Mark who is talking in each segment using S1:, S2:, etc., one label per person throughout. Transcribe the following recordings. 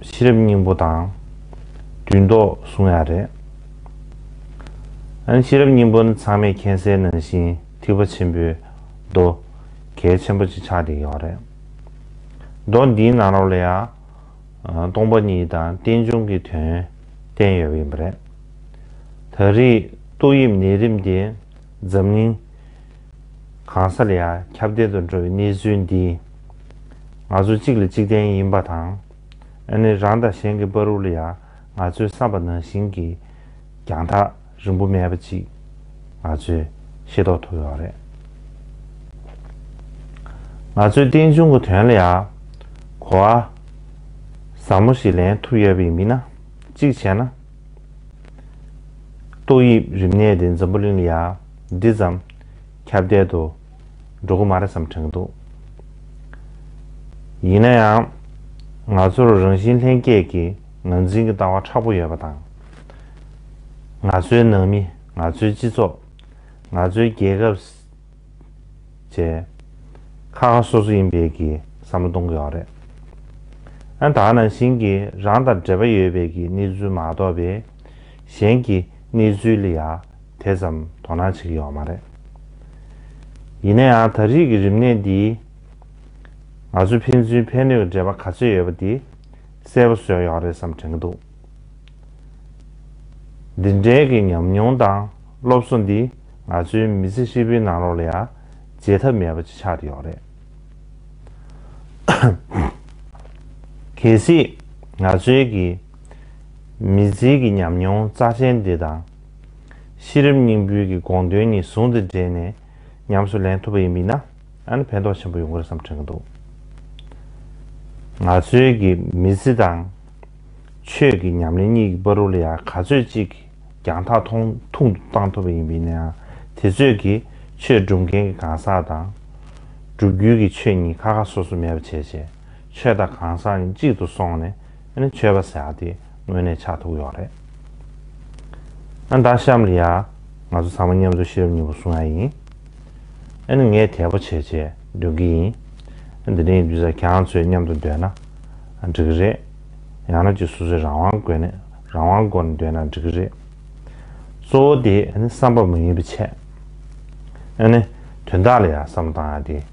S1: ཤེས་རབ་སྙིང་པོ་དང། དུས་མདོག་གསུང་ཡ་རེད། ཨན། ཤེས་རབ་སྙིང་པོ་ནི་ཚང་མས་མཁྱེན་གསལ་ནང་བཞིན་ཐིགས་པ་ཆེན་པོའི་མདོ། གལ་ཆེན་པོ་གཅིག་ཆགས་འདེགས་ཡོད་རེད། མདོ་འདིའི་ནང་རོ་ལ་ཡང། སྟོང་པ་ཉིད་དང་རྟེན་འབྱུང་གི་དོན་བསྟན་ཡོད་པ་ཡིན་པ་རེད། ད་རེས་ཏོག་དབྱིབས་ནད་རིམས་དེ་འཛམ་གླིང་གང་ས་ལ་ཡང་ཁྱབ་བརྡལ་དུ་འགྲོ་བའི་གནས་ཚུལ་འདིས། ང་ཚོ་གཅིག་ལ་གཅིག་བརྟེན་ཡིན་པ་དང། ཨ་ནི་རང་དང་གཞན་གྱི་དཔའ་རུ་ལ་ཡང་ང་ཚོའི་བསམ་པ་ནང་བཞིན་གྱི་རྒྱང་ཐག་རིང་པོ་མེད་པ་ཅིག་ང་ཚོས་ཤེས་རྟོགས་ཐུབ་ཡོད་རེད། ང་ཚོས་རྟེན་འབྱུང་གི་དོན་ལ་ཡང་གོ་བ་ཟབ་མོ་ཞིག་ལེན་ཐུབ་ཡོད་པ་ཡིན་མིན་ན་གཅིག་བྱས་ན། ཏོག་དབྱིབས་རིམས་ནད་དེ་འཛམ་བུ་གླིང་ལ་ཡང་འདི་ཙམ་ཁྱབ་བརྡལ་དུ་འགྲོ་གི་མ་རེད་བསམ་དྲན་གྱི་འདུག། ཡིན་ན་ཡང། ང་ཚོར་རང་བཞིན་ལྷན་སྐྱེས་ཀྱི་ངར་འཛིན་གྱི་ལྟ་བ་ཕྲག་པོ་ཡོད་པ་དང། ང་ཚོའི་ནང་མི། ང་ཚོའི་སྤྱི་ཚོགས། ང་ཚོའི་རྒྱལ་ཁབ། བཅས་ཁ་ཁ་སོ་སོ་ཡིན་པས་ཀྱི་བསམ་བློ་གཏོང་གི་ཡོད་རེད། ཨང་དང་ནང་བཞིན་གྱི་རང་དང་འབྲེལ་པ་ཡོད་པའི་ཀྱི་གནས་ཚུལ་མ་གཏོགས་པའི་གཞན་གྱི་གནས་ཚུལ་ལ་ཡ། དེ་ཙམ་དོ་སྣང་བྱེད་ཀྱི་ཡོད་མ་རེད། ཡིན་ན་ཡང་ད་རིས་ཀྱི་རིམས་ནད་འདིས། ང་ཚོའི་ཕན་ཚུན་ཕན་གནོད་ཀྱི་འབྲེལ་བ་ག་ཚོད་ཡོད་པ་དེ་གསལ་པོ་བཟོས་ཡོང་རེད་བསམ་དྲན་གྱི་འདུག་འདི་འདྲའི་གི་ཉམས་མྱོང་དང་སློབ་གསོ་འདི་ང་ཚོའི་མི་ཚེ་ཧྲིལ་པོའི་ནང་རོགས་ལ་ཡང་བརྗེད་ཐབས་མེད་པ་ཅིག་ཆགས་ཀྱི་ཡོད་རེད། གལ་སྲིད་ང་ཚོའི་གི་མི་ཚེའི་གི་ཉམས་མྱོང་རྩ་ཆེན་འདི་དང། གཤིས་རིམ་སྙིང་འབུལ་གྱི་དགོངས་དོན་གཉིས་ཟུང་དུ་འབྲེལ་ནས་ཉམས་སུ་ལེན་ཐུབ་པ་ཡིན་པས་ན་ཨ་ནི་ཕན་ཐོགས་ཆེན་པོ་ཡོང་གི་རེད་བསམ་དྲན་གྱི་འདུག་ང་ཚོའི་གི་མི་ཚེ་དང། ཆོས་ཀྱི་ཉམས་ལེན་གཉིས་ཀྱི་པར་རུ་ལ་ཡང་ག་ཚོད་ཅིག་གིས་རྒྱང་ཐག་ཐུང་ཐུང་དུ་བཏང་ཐུབ་པ་ཡིན་པས་ན་དེ་ཚོད་ཀྱིས་ཆོས་སྒྲུབ་མཁན་གྱི་གང་ཟག་དང། སྒྲུབ་རྒྱུའི་གི་ཆོས་གཉིས་ཁ་ཁ་སོ་སོ་མེད་པ་བྱས་བྱས་ཆོས་དང་གང་ཟག་གཉིས་གཅིག་ཏུ་སོང་ནས་ཨ་ནི་ཆོས་པ་ཟེར་བ་དེ་དངོས་གནས་ཆགས་ཐུག་ཡོད་རེད། ཨ་ན་ད་ཤམ་ལི་ཡ། ང་ཚོ་ཚང་མ་མཉམ་འཛོམས་ཤེས་རབ་གཉིས་པོ་སྲུང་ཡ་ཡིན། ཨ་ནི་ངས་དལ་པོ་བྱས་བྱས་སྡོད་ཀྱི་ཡིན། འདི་འདྲའི་ཡིན་དུས་ས་གྱང་ཚོས་མཉམ་དུ་སྡོད་ན་འགྲིག་གི་རེད། ཡང་ན་གཅིག་སོ་སོའི་རང་དབང་དགོས་ནས་རང་དབང་སྒོ་ནས་སྡོད་ན་འགྲིག་གི་རེད། གཙོ་བོ་དེ་ཨ་ནི་བསམ་པ་མ་ཡིན་པའི་ཆེད། ཨ་ནི་དོན་དག་ལ་ཡང་བསམ་བློ་བཏང་ཡ་དེ།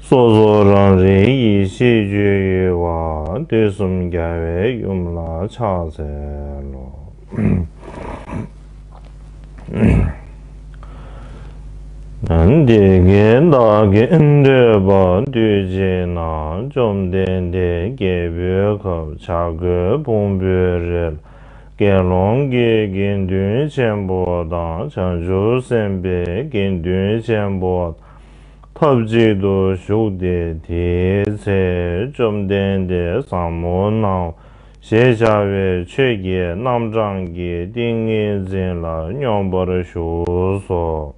S1: སོ་སོ་རང་རིག་ཡེ་ཤེས་རྒྱུ་ཡི་བ་དེ་གསུམ་རྒྱལ་བའི་ཡུམ་ལ་ཕྱག་འཚལ་ལོ། འདི་སྐད་བདག་གིས་འདོད་པ་འདུས་བགྱིས་ན་བཅོམ་ལྡན་འདས་སྐྱེས་བུའི་ཁབ་བྱ་རྒོད་ཕུང་པོའི་རིལ་དགེ་སློང་གི་དགེ་འདུན་ཆེན་པོ་དང་བྱང་ཆུབ་སེམས་དཔའི་དགེ་འདུན་ཆེན་པོ་དང་ཐབས་ཅིག་ཏུ་བཞུགས་ཏེ་དེའི་ཚེ་བཅོམ་ལྡན་འདས་བཟང་མོ་རྣམས་ཞེས་བྱ་བའི་ཆོས་བརྒྱད་རྣམ་གྲངས་ཀྱི་ཏིང་ངེ་འཛིན་ལ་སྙོམས་པར་བཞུགས་སོ།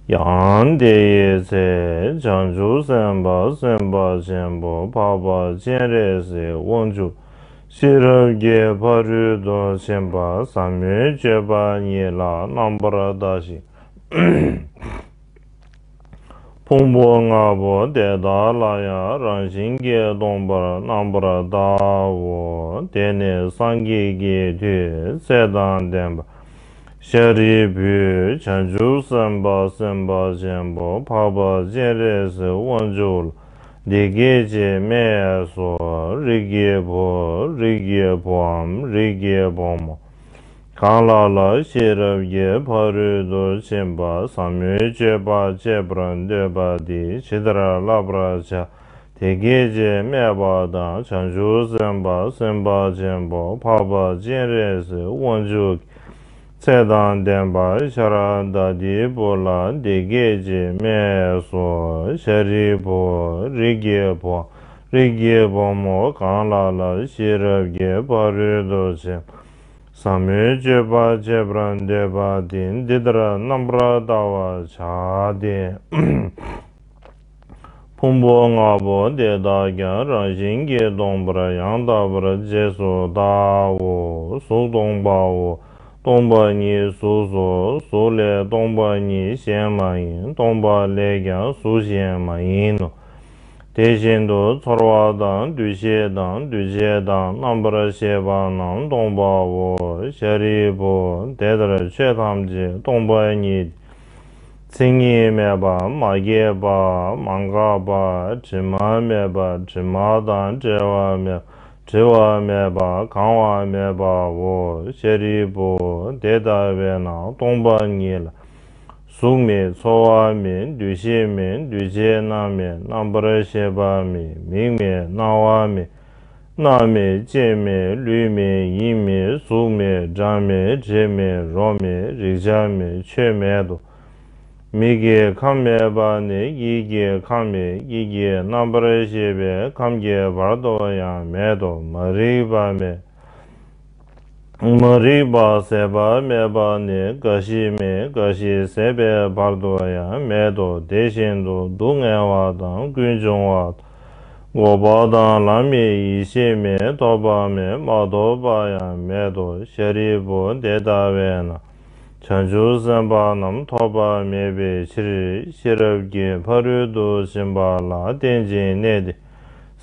S1: ཡང་དེའི་ཚེ་བྱང་ཆུབ་སེམས་དཔའ་སེམས་དཔའ་ཆེན་པོ་འཕགས་པ་སྤྱན་རས་གཟིགས་དབང་ཕྱུག་ཤེས་རབ་རྒྱས་ཕ་རུའི་མདོ་ཆེན་པ་ཟབ་མོའི་སྤྱོད་པ་ཉིད་ལ་རྣམ་པར་ལྟ་ཞིང། ཕུང་པོ་ལྔ་པོ་དེ་དག་ལ་ཡང་རང་བཞིན་གྱིས་སྟོང་པར་རྣམ་པར་ལྟའོ། དེ་ནི་སངས་རྒྱས་ཀྱི་མཐུས་ཚེ་དང་ལྡན་པ་ཤཱ་རིའི་བུའི་བྱང་ཆུབ་སེམས་དཔའ་སེམས་དཔའ་ཆེན་པོ་འཕགས་པ་སྤྱན་རས་གཟིགས་དབང་ཕྱུག་ལ། འདི་སྐད་ཅེས་སྨྲས་སོ། རིགས་ཀྱི་བུ། རིགས་ཀྱི་བུའམ་རིགས་ཀྱི་བུ་མོ། གང་ལ་ལ་ཤེས་རབ་ཀྱི་ཕ་རོལ་ཏུ་ཕྱིན་པ་ཟབ་མོའི་སྤྱོད་པ་སྤྱད་པར་འདོད་པ་འདི་ཇི་ལྟར་བསླབ་པར་བྱ། དེ་སྐད་ཅེས་སྨྲས་པ་དང་བྱང་ཆུབ་སེམས་དཔའ་སེམས་དཔའ་ཆེན་པོ་འཕགས་པ་སྤྱན་རས་གཟིགས་དབང་ཕྱུག་གིས། ཚེ་དང་ལྡན་པ་ཤ་ར་དྭ་ཏིའི་བུ་ལ་འདི་སྐད་ཅེས་སྨྲས་སོ། ཤཱ་རིའི་བུ། རིགས་ཀྱི་བུ། རིགས་ཀྱི་བུ་མོ་གང་ལ་ལ་ཤེས་རབ་ཀྱི་བ་རུལ་དུ་ཕྱིན། ཟབ་མོའི་སྤྱོད་པ་བྱེད་པར་འདོད་པ་དེ་འདི་ལྟར་རྣམ་པར་བལྟ་བར་བྱ་སྟེ། ཕུང་པོ་ལྔ་པོ་དེ་དག་ཀྱང་རང་བཞིན་གྱིས་སྟོང་པར་ཡང་དག་པར་རྗེས་སུ་དགའོ། གཟུགས་སྟོང་པའོ། སྟོང་པ་ཉིད་གཟུགས་སོ། གཟུགས་ལས་སྟོང་པ་ཉིད་གཞན་མ་ཡིན་སྟོང་པ་ལས་ཀྱང་གཟུགས་གཞན་མ་ཡིན་ནོ། དེ་བཞིན་དུ་ཚོར་བ་དང་འདུ་ཤེས་དང་འདུ་བྱེད་དང་རྣམ་པར་ཤེས་པ་རྣམས་སྟོང་པའོ། ཤཱ་རིའི་བུ་དེ་ལྟར་ཆོས་ཐམས་ཅད་སྟོང་པ་ཉིད། མཚན་ཉིད་མེད་པ་མ་སྐྱེས་པ་མ་འགགས་པ་དྲི་མ་མེད་པ་དྲི་མ་དང་བྲལ་བ་མེད་བྲི་བ་མེད་པ་གང་བ་མེད་པའོ། ཤཱ་རིའི་བུ་དེ་ལྟ་བས་ན་སྟོང་པ་ཉིད་ལ། གཟུགས་མེད་ཚོར་བ་མེད་འདུ་ཤེས་མེད་འདུ་བྱེད་རྣམ་མེད་རྣམ་པར་ཤེས་པ་མེད་མིག་མེད་རྣ་བ་མེད། སྣང་མེད་སྐྱེ་མེད་ལུས་མེད་ཡིན་མེད་གཟུགས་མེད་སྒྲ་མེད་དྲི་མེད་རོ་མེད་རེག་བྱ་མེད་ཆོས་མེད་དོ། མིག་གི་ཁམས་མེད་པ་ནི་ཡིད་ཀྱི་ཁམས་མེད་ཡིད་ཀྱི་རྣམ་པར་ཤེས་པའི་ཁམས་ཀྱི་བར་དོ་ཡང་མེད་དོ་མ་རིག་པ་མེད། མ་རིག་པ་ཟད་པ་མེད་པ་ནི་རྒ་ཤི་མེད་རྒ་ཤི་ཟད་པའི་བར་དུ་ཡང་མེད་དོ་དེ་བཞིན་དུ་སྡུག་བསྔལ་བ་དང་ཀུན་འབྱུང་བ་དང་འགོག་པ་དང་ལམ་མེད་ཡེ་ཤེས་མེད་ཐོགས་པ་མེད་མ་ཐོབ་པ་ཡང་མེད་དོ་ཤཱ་རིའི་བུ་དེ་ལྟ་བས་ན་བྱང་ཆུབ་སེམས་དཔའ་རྣམས་ཐོགས་པ་མེད་པའི་ཕྱིར་ཤེས་རབ་ཀྱི་ཕ་རོལ་ཏུ་ཕྱིན་པ་ལ་རྟེན་ཅིང་གནས་ཏེ།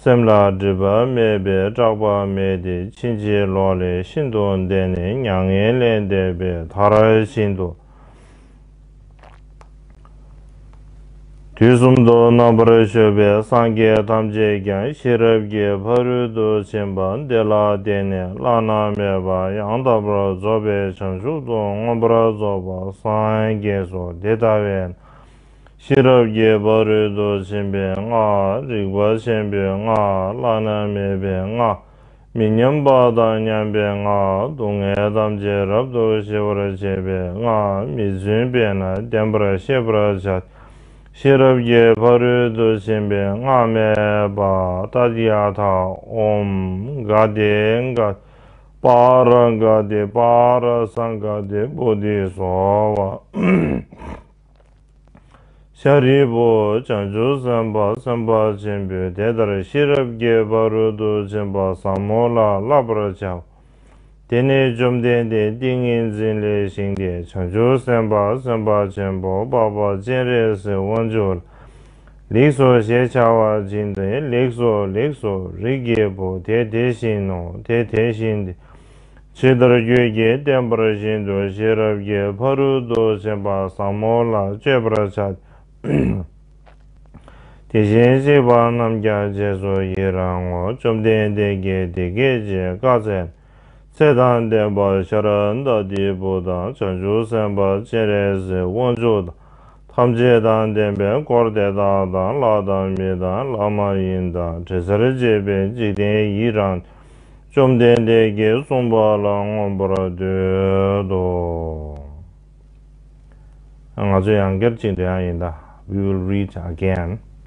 S1: སེམས་ལ་སྒྲིབ་པ་མེད་པས་སྐྲག་པ་མེད་དེ་ཕྱིན་ཅི་ལོག་ལས་ཤིན་ཏུ་འདས་ནས་མྱ་ངན་ལས་འདས་པའི་མཐར་ཕྱིན་ཏོ། དུས་གསུམ་དུ་རྣམ་པར་གཞོལ་བའི་སངས་རྒྱས་ཐམས་ཅད་ཀྱང་ཤེས་རབ་ཀྱི་ཕ་རོལ་ཏུ་ཕྱིན་པ་འདི་ལ་བརྟེན་ནས་བླ་ན་མེད་པ་ཡང་དག་པར་རྫོགས་པའི་བྱང་ཆུབ་ཏུ་མངོན་པར་རྫོགས་པར་སངས་རྒྱས་སོ་དེ་ལྟ་བས་ན་ཤེས་རབ་རྒྱས་པ་རོལ་དུ་ཕྱིན་པའི་སྔགས་རིག་པ་ཆེན་པོའི་སྔགས་བླ་ན་མེད་པའི་སྔགས་མི་མཉམ་པ་དང་མཉམ་པའི་སྔགས་སྡུག་བསྔལ་ཐམས་ཅད་རབ་ཏུ་ཞི་བར་བྱེད་པའི་སྔགས་མི་བརྫུན་པས་ན་བདེན་པར་ཤེས་པར་བྱ། ཤེས་རབ་རྒྱས་པ་རོལ་དུ་ཕྱིན་པའི་སྔགས་སྨྲས་པ་ཏཱ་ཏི་ཡ་ཐ་ཨོམ་གཱ་ཏེ་གཱ་པཱ་ར་གཱ་ཏེ་པཱ་ར་སངྒ་ཏེ་བྷོ་དྷི་སོ་བྷ། ཤཱ་རིའི་བུ། བྱང་ཆུབ་སེམས་དཔའ་སེམས་དཔའ་ཆེན་པོས་དེ་ལྟར་ཤེས་རབ་རྒྱས་པ་རོལ་དུ་ཕྱིན་པ་བཟང་མོ་ལ་བསླབ་པར་བྱའོ། དེ་ནས་བཅོམ་ལྡན་འདས་ཏིང་ངེ་འཛིན་ལས་བཞེངས་ཏེ་བྱང་ཆུབ་སེམས་དཔའ་སེམས་དཔའ་ཆེན་པོ་དཔའ་བོ་སྤྱན་རས་གཟིགས་དབང་ཕྱུག་ལ་ལེགས་སོ་ཞེས་བྱ་བ་སྦྱིན་ཏེ་ལེགས་སོ་ལེགས་སོ་རིགས་ཀྱི་བུ་དེ་དེ་བཞིན་ནོ་དེ་དེ་བཞིན་ཏེ་ཇི་ལྟར་རྒྱུད་ཀྱི་བསྟན་པར་བཞིན་དུ་ཤེས་རབ་ཀྱི་ཕ་རོལ་ཏུ་ཕྱིན་པ་ཟབ་མོ་ལ་སྤྱོད་པར་བྱ། དེ་བཞིན་གཤེགས་པ་རྣམས་ཀྱང་རྗེས་སུ་ཡི་རང་ངོ། བཅོམ་ལྡན་འདས་ཀྱིས་དེ་སྐད་ཅེས་བཀའ་སྩལ། ཚེ་དང་ལྡན་པ་ཤཱ་ར་འདྀ་དེའི་བུ་དང་བྱང་ཆུབ་སེམས་དཔའ་སྤྱན་རས་གཟིགས་དབང་ཕྱུག་དང། ཐམས་ཅད་དང་ལྡན་པའི་འཁོར་དེ་དག་དང་ལྷ་དང་མི་དང་ལྷ་མ་ཡིན་དང་དྲི་ཟར་བཅས་པའི་འཇིག་རྟེན་ཡིད་རང་བཅོམ་ལྡན་འདས་ཀྱིས་གསུངས་པ་ལ་མངོན་པར་འདོད་དོ། ང་ཚོ་ཡང་སྒེར་གཅིག་འདྲ་ཡིན་ད we will read again།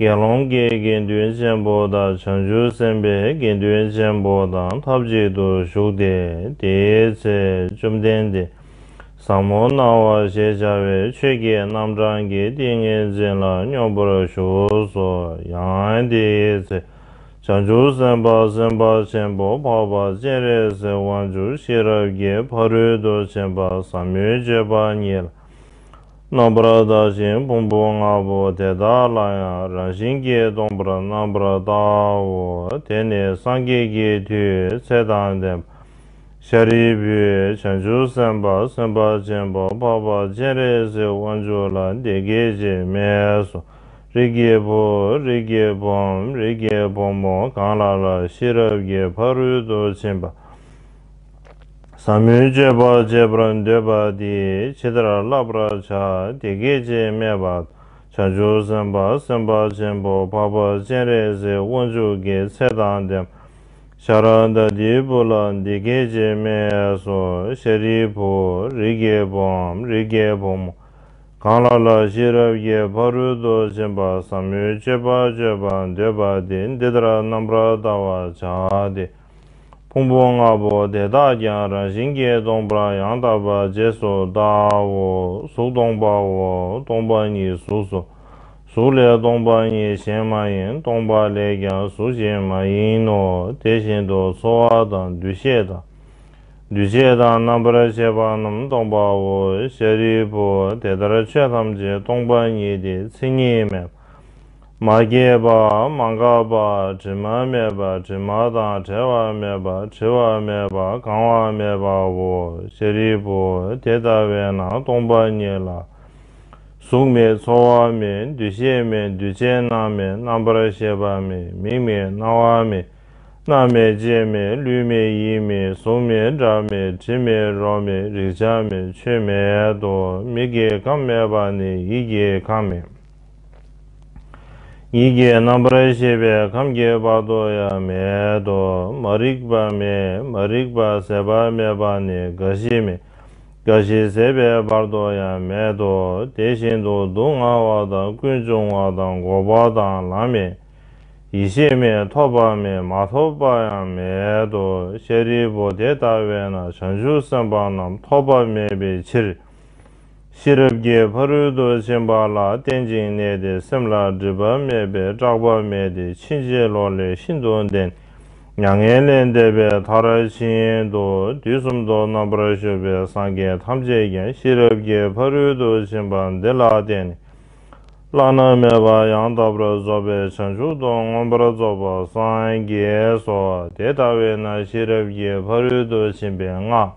S1: དགེ་སློང་གི་དགེ་འདུན་ཆེན་པོ་དང་བྱང་ཆུབ་སེམས་དཔའི་དགེ་འདུན་ཆེན་པོ་དང་ཐབས་ཅིག་ཏུ་བཞུགས་ཏེ་དེའི་ཚེ་བཅོམ་ལྡན་འདས་བཟང་མོ་སྣང་བ་ཞེས་བྱ་བའི་ཆོས་ཀྱི་རྣམ་གྲངས་ཀྱི་ཏིང་ངེ་འཛིན་ལ་སྙོམས་པར་ཞུགས་སོ། ཡང་དེའི་ཚེ་བྱང་ཆུབ་སེམས་དཔའ་སེམས་དཔའ་ཆེན་པོ་འཕགས་པ་སྤྱན་རས་གཟིགས་དབང་ཕྱུག་ཤེས་རབ་ཀྱི་ཕ་རོལ་ཏུ་ཕྱིན་པ་ཟབ་མོའི་སྤྱོད་པ་ཉིད་ལ། རྣམ་པར་བརྟག་ཅིང་ཕུང་པོ་ལྔ་པོ་དེ་དག་ལ་ཡང་རང་བཞིན་གྱིས་སྟོང་པར་རྣམ་པར་བརྟགའོ། དེ་ནི་སངས་རྒྱས་ཀྱི་མཐུའི་ཚེ་དང་ལྡན་པ། ཤཱ་རིའི་བུ། བྱང་ཆུབ་སེམས་དཔའ་སེམས་དཔའ་ཆེན་པོ་འཕགས་པ་སྤྱན་རས་གཟིགས་དབང་ཕྱུག་ལ་འདི་སྐད་ཅེས་སྨྲས་སོ། རིགས་ཀྱི་བུ། རིགས་ཀྱི་བུའམ་རིགས་ཀྱི་བུ་མོ་གང་ལ་ལ་ཤེས་རབ་ཀྱི་ཕ་རོལ་ཏུ་ཕྱིན་པ། ཟབ་མོའི་སྤྱོད་པ་སྤྱད་པར་འདོད་པ་འདི་ཇི་ལྟར་བསླབ་པར་བྱ་དེ་སྐད་ཅེས་སྨྲས་པ། བྱང་ཆུབ་སེམས་དཔའ་སེམས་དཔའ་ཆེན་པོ་འཕགས་པ་སྤྱན་རས་གཟིགས་དབང་ཕྱུག་གི་ཚེ་དང་ལྡན། ཤཱ་ར་དྭ་ཏིའི་བུ་ལ་འདི་སྐད་ཅེས་སྨྲས་སོ་ཤཱ་རིའི་བུ་རིགས་བརྒྱའི་བུའམ་རིགས་བརྒྱའི་བུ་མོ་གང་ལ་ལ་ཤེས་རབ་ཀྱི་ཕ་རོལ་ཏུ་ཕྱིན་པ་ཟབ་མོའི་སྤྱོད་པ་སྤྱོད་པར་འདོད་པ་འདི་འདི་ལྟར་རྣམ་པར་བལྟ་བར་བྱ་སྟེ། ཕུང་པོ་ལྔ་པོ་དེ་དག་ཀྱང་རང་བཞིན་གྱིས་སྟོང་པར་ཡང་དག་པར་རྗེས་སུ་བལྟའོ། གཟུགས་སྟོང་པའོ། སྟོང་པ་ཉིད་གཟུགས་སོ། གཟུགས་ལས་སྟོང་པ་ཉིད་གཞན་མ་ཡིན་སྟོང་པ་ལས་ཀྱང་གཟུགས་གཞན་མ་ཡིན་ནོ། དེ་བཞིན་དུ་ཚོར་བ་དང་འདུ་ཤེས་དང། འདུ་བྱེད་དང་རྣམ་པར་ཤེས་པ་རྣམས་སྟོང་པའོ། ཤཱ་རིའི་བུ་དེ་ལྟར་ཆོས་ཐམས་ཅད་སྟོང་པ་ཉིད་དེ་མཚན་ཉིད་མེད་པ། མ་སྐྱེས་པ་མ་འགགས་པ་དྲི་མ་མེད་པ་དྲི་མ་དང་བྲལ་བ་མེད་པ་འཁྲི་བ་མེད་པ་གང་བ་མེད་པའོ། ཤཱ་རིའི་བུ་དེ་ལྟ་བས་ན་སྟོང་པ་ཉིད་ལ། གཟུགས་མེད་ཚོར་བ་མེད་འདུ་ཤེས་མེད་འདུས་བྱས་རྣམ་མེད་རྣམ་པར་ཤེས་པ་མེད་མིག་མེད་རྣ་བ་མེད་སྣ་མེད་ལྕེ་མེད་ལུས་མེད་ཡིད་མེད་གཟུགས་མེད་སྒྲ་མེད་དྲི་མེད་རོ་མེད་རེག་བྱ་མེད་ཆོས་མེད་དོ། མིག་གི་ཁམས་མེད་པ་ནི་ཡིད་ཀྱི་ཁམས་མེད། ཡིད་ཀྱི་རྣམ་པར་ཤེས་པའི་ཁམས་ཀྱི་བར་དོ་ཡང་མེད་དོ། མ་རིག་པ་མེད་མ་རིག་པ་ཟད་པ་མེད་པ་ནི་རྒ་ཤི་མེད་རྒ་ཤི་ཟད་པའི་བར་དོ་ཡང་མེད་དོ། དེ་བཞིན་དུ་སྡུག་བསྔལ་བ་དང་ཀུན་འབྱུང་བ་དང་འགོག་པ་དང་ལམ་མེད་ཡེ་ཤེས་མེད་ཐོབ་པ་མེད་མ་ཐོབ་པ་ཡང་མེད་དོ། ཤཱ་རིའི་བུ་དེ་ལྟ་བས་ན་བྱང་ཆུབ་སེམས་དཔའ་རྣམས་ཐོབ་པ་མེད་པའི་ཕྱིར། ཤེས་རབ་ཀྱི་ཕ་རོལ་ཏུ་ཕྱིན་པ་ལ་རྟེན་ཅིང་གནས་ཏེ་སེམས་ལ་སྒྲིབ་པ་མེད་པས་སྐྲག་པ་མེད་དེ་ཕྱིན་ཅི་ལོག་ལས་ཤིན་ཏུ་འདས། མྱ་ངན་ལས་འདས་པའི་མཐའ་ར་བཞིན་དུ་དུས་གསུམ་ཐོག་རྣམ་པར་གཞོལ་བའི་སངས་རྒྱས་ཐམས་ཅད་ཀྱང་ཤེས་རབ་ཀྱི་ཕ་རོལ་ཏུ་ཕྱིན་པ་འདི་ལ་བརྟེན་ནས་བླ་ན་མེད་པ་ཡང་དག་པར་རྫོགས་པའི་བྱང་ཆུབ་ཏུ་མངོན་པར་རྫོགས་པར་སངས་རྒྱས་སོ། དེ་ལྟ་བས་ན་ཤེས་རབ་ཀྱི་ཕ་རོལ་ཏུ་ཕྱིན་པའི་སྔགས།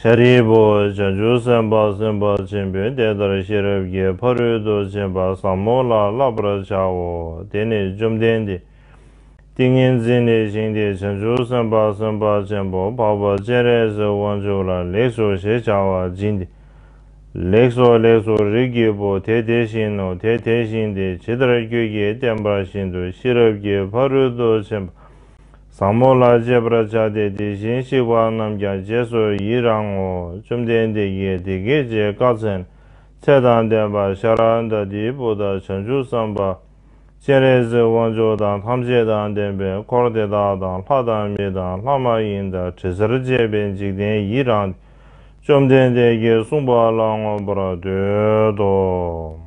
S1: ཤཱ་རིའི་བུ། བྱང་ཆུབ་སེམས་དཔའ་སེམས་དཔའ་ཆེན་པོས་དེ་ལྟར་ཤེས་རབ་ཀྱི་ཕ་རོལ་ཏུ་ཕྱིན་པ་ཟབ་མོ་ལ་བསླབ་པར་བྱའོ། དེ་ནི་བཅོམ་ལྡན་འདས། ཏིང་ངེ་འཛིན་ལས་བཞེངས་ཏེ་བྱང་ཆུབ་སེམས་དཔའ་སེམས་དཔའ་ཆེན་པོ་འཕགས་པ་སྤྱན་རས་གཟིགས་དབང་ཕྱུག་ལ་ལེགས་སོ་ཞེས་བྱ་བ་སྦྱིན་ཏེ། ལེགས་སོ་ལེགས་སོ་རིགས་ཀྱི་བུ་དེ་དེ་བཞིན་ནོ་དེ་དེ་བཞིན་ཏེ་ཇི་ལྟར་ཁྱོད་ཀྱིས་བསྟན་པ་བཞིན་དུ་ཤེས་རབ་ཀྱི་ཕ་རོལ་ཏུ་ཕྱིན་པ་བཟང་མོ་ལ་སྤྱད་པར་བྱ་སྟེ་དེ་བཞིན་གཤེགས་པ་རྣམས་ཀྱང་རྗེས་སུ་ཡི་རང་ངོ། བཅོམ་ལྡན་འདས་ཀྱིས་དེ་སྐད་ཅེས་བཀའ་སྩལ། ཚེ་དང་ལྡན་པ་ཤཱ་ར་འདྀ་དེའི་བུ་དག་བྱང་ཆུབ་སེམས་དཔའ། སྤྱན་རས་གཟིགས་དབང་ཕྱུག་དང་ཐམས་ཅད་དང་ལྡན་པས་འཁོར་དེ་དག་དང་ལྷ་དང་མི་དང་ལྷ་མ་ཡིན་དང་དྲི་ཟར་བཅས་པའི་འཇིག་རྟེན་ཡི་རང། བཅོམ་ལྡན་འདས་ཀྱིས་གསུངས་པ་ལ་མངོན་པར་འདོད་དོ།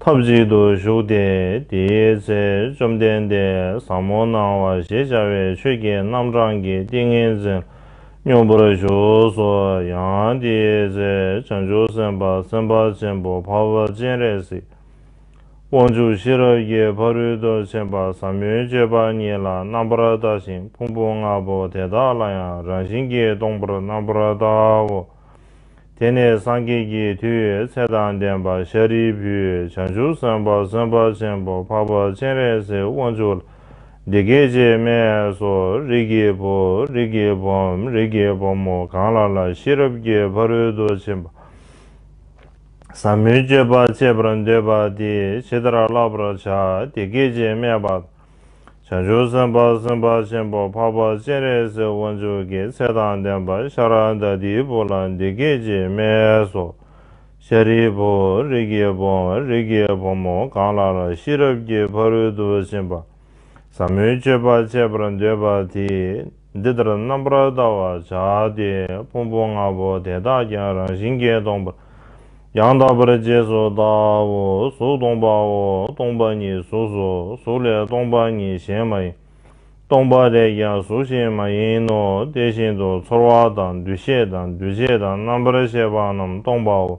S1: ཐབས་གཅིག་ཏུ་བཞུགས་ཏེ་དེའི་ཚེ་བཅོམ་ལྡན་འདས་ཟབ་མོ་སྣང་བ་ཞེས་བྱ་བའི་ཆོས་ཀྱི་རྣམ་གྲངས་ཀྱི་ཏིང་ངེ་འཛིན་སྙོམས་པར་ཞུགས་སོ། ཡང་དེའི་ཚེ་བྱང་ཆུབ་སེམས་དཔའ་སེམས་དཔའ་ཆེན་པོ་འཕགས་པ་སྤྱན་རས་གཟིགས་དབང་ཕྱུག་ཤེས་རབ་ཀྱི་ཕ་རོལ་ཏུ་ཕྱིན་པ་ཟབ་མོའི་སྤྱོད་པ་ཉིད་ལ་རྣམ་པར་བརྟགས་ཤིང་ཕུང་པོ་ལྔ་པོ་དེ་དག་ལ་ཡང་རང་བཞིན་གྱིས་སྟོང་པར་རྣམ་པར་བརྟག་གོ། དེ་ནས་སངས་རྒྱས་ཀྱི་མཐུའི་ཚད་དང་ལྡན་པ་ཤཱ་རིའི་བུས་བྱང་ཆུབ་སེམས་དཔའ་སེམས་དཔའ་ཆེན་པོ་འཕགས་པ་སྤྱན་རས་གཟིགས་དབང་ཕྱུག་ལ་འདི་སྐད་ཅེས་སྨྲས་སོ། རིགས་ཀྱི་བུ། རིགས་ཀྱི་བུའམ་རིགས་ཀྱི་བུ་མོ་གང་ལ་ལ་ཤེས་རབ་ཀྱི་ཕ་རོལ་ཏུ་ཕྱིན་པ་ཟབ་མོའི་སྤྱོད་པ་སྤྱད་པར་འདོད་པ་དེས་ཇི་ལྟར་བསླབ་པར་བྱ་དེ་སྐད་ཅེས་སྨྲས་པ་དང། བྱང་ཆུབ་སེམས་དཔའ་སེམས་དཔའ་ཆེན་པོ་འཕགས་པ་སྤྱན་རས་གཟིགས་དབང་ཕྱུག་གི་ཚེ་དང་ལྡན་པ་ཤཱ་ར་དྭ་ཏིའི་བུ་ལ་འདི་སྐད་ཅེས་སྨྲས་སོ། ཤཱ་རིའི་བུ་རིགས་ཀྱི་བུ་རིགས་ཀྱི་བུ་མོ་གང་ལ་ལ་ཤེས་རབ་ཀྱི་ཕ་རོལ་ཏུ་ཕྱིན་པ་ཟབ་མོའི་སྤྱོད་པ་སྤྱད་པར་འདོད་པ་དེས། འདི་ལྟར་རྣམ་པར་བལྟ་བར་བྱ་སྟེ་ཕུང་པོ་ལྔ་པོ་དེ་དག་ཀྱང་རང་བཞིན་གྱིས་སྟོང་པ། ཡང་དག་པར་རྗེས་སུ་བལྟའོ། གཟུགས་སྟོང་པའོ། སྟོང་པ་ཉིད་གཟུགས་སོ། གཟུགས་ལས་སྟོང་པ་ཉིད་གཞན་མ་ཡིན། སྟོང་པ་ལས་ཀྱང་གཟུགས་གཞན་མ་ཡིན་ནོ། དེ་བཞིན་དུ་ཚོར་བ་དང་འདུ་ཤེས་དང་འདུ་བྱེད་དང་རྣམ་པར་ཤེས་པ་རྣམས་སྟོང་པའོ།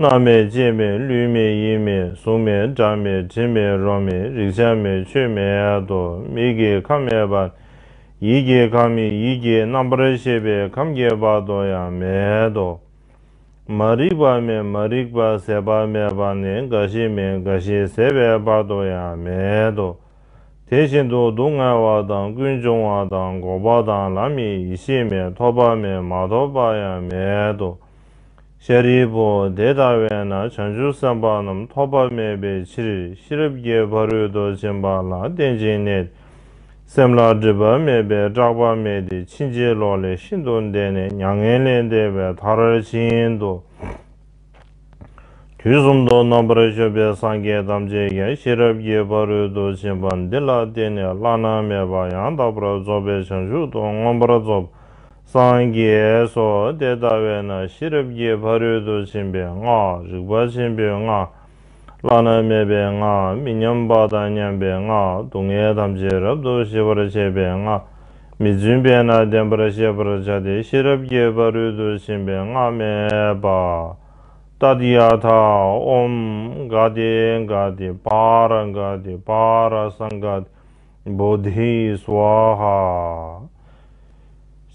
S1: སྔགས་མེད་སྐྱེས་མེད་ལུས་མེད་ཡིད་མེད་གཟུགས་མེད་སྒྲ་མེད་དྲི་མེད་རོ་མེད་རིག་བྱ་མེད་ཆོས་མེད་དོ་མི་དགེའི་ཁམས་མེད་པ། ཡིད་ཀྱི་ཁམས་མི་ཡིད་ཀྱི་རྣམ་པར་ཤེས་པའི་ཁམས་རྒྱས་པ་དོ་ཡང་མེད་དོ། མ་རིག་པ་མེད་མ་རིག་པ་ཟད་པ་མེད་པ་ནི་རྒ་ཤི་མེད་རྒ་ཤི་ཟད་པའི་བར་དོ་ཡང་མེད་དོ། དེ་བཞིན་དུ་སྡུག་བསྔལ་བ་དང་ཀུན་འབྱུང་བ་དང་འགོག་པ་དང་ལམ་མེད་ཡེ་ཤེས་མེད་ཐོབ་པ་མེད་མ་ཐོབ་པ་ཡང་མེད་དོ། ཤཱ་རིའི་བུ། དེ་ལྟ་བས་ན་བྱང་ཆུབ་སེམས་དཔའ་རྣམས་ཐོགས་པ་མེད་པའི་ཕྱིར་ཤེས་རབ་ཀྱི་ཕ་རོལ་ཏུ་ཕྱིན་པ་ལ་རྟེན་ཅིང་གནས་ཏེ། སེམས་ལ་སྒྲིབ་པ་མེད་པས་སྐྲག་པ་མེད་དེ་ཕྱིན་ཅི་ལོག་ལས་ཤིན་ཏུ་འདས་ནས་མྱ་ངན་ལས་འདས་པའི་མཐར་ཕྱིན་ཏོ། དུས་གསུམ་དུ་རྣམ་པར་གཞོམ་པའི་སངས་རྒྱས་ཐམས་ཅད་ཀྱང་ཤེས་རབ་ཀྱི་ཕ་རོལ་ཏུ་ཕྱིན་པ་འདི་ལ་བརྟེན་ནས་བླ་ན་མེད་པ་ཡང་དག་པར་རྫོགས་པའི་བྱང་ཆུབ་ཏུ་མངོན་པར་རྫོགས་པ་སངས་རྒྱས་སོ་དེ་ལྟ་བས་ན་ཤེས་རབ་ཀྱི་ཕ་རོལ་ཏུ་ཕྱིན་པའི་སྔགས་རིག་པ་ཆེན་པོའི་སྔགས། བླ་ན་མེད་པའི་སྔགས་མི་མཉམ་པ་དང་མཉམ་པའི་སྔགས་སྡུག་བསྔལ་ཐམས་ཅད་རབ་ཏུ་ཞི་བར་བྱེད་པའི་སྔགས་མི་བརྫུན་པས་ན་བདེན་པར་ཤེས་པར་བྱ་སྟེ་ཤེས་རབ་ཀྱི་ཕ་རོལ་ཏུ་ཕྱིན་པའི་སྔགས་སྨྲས་པ། ཏཱ་དཱི་ཡ་ཐ་ཨོམ། གཱ་ཏཱི་གཱ་ཏཱི་བཱ་ར་གཱ་ཏཱི་བཱ་ར་སངྒཱ་ཏཱི། བོ་དྷིའི་སཝཱ་ཧཱ།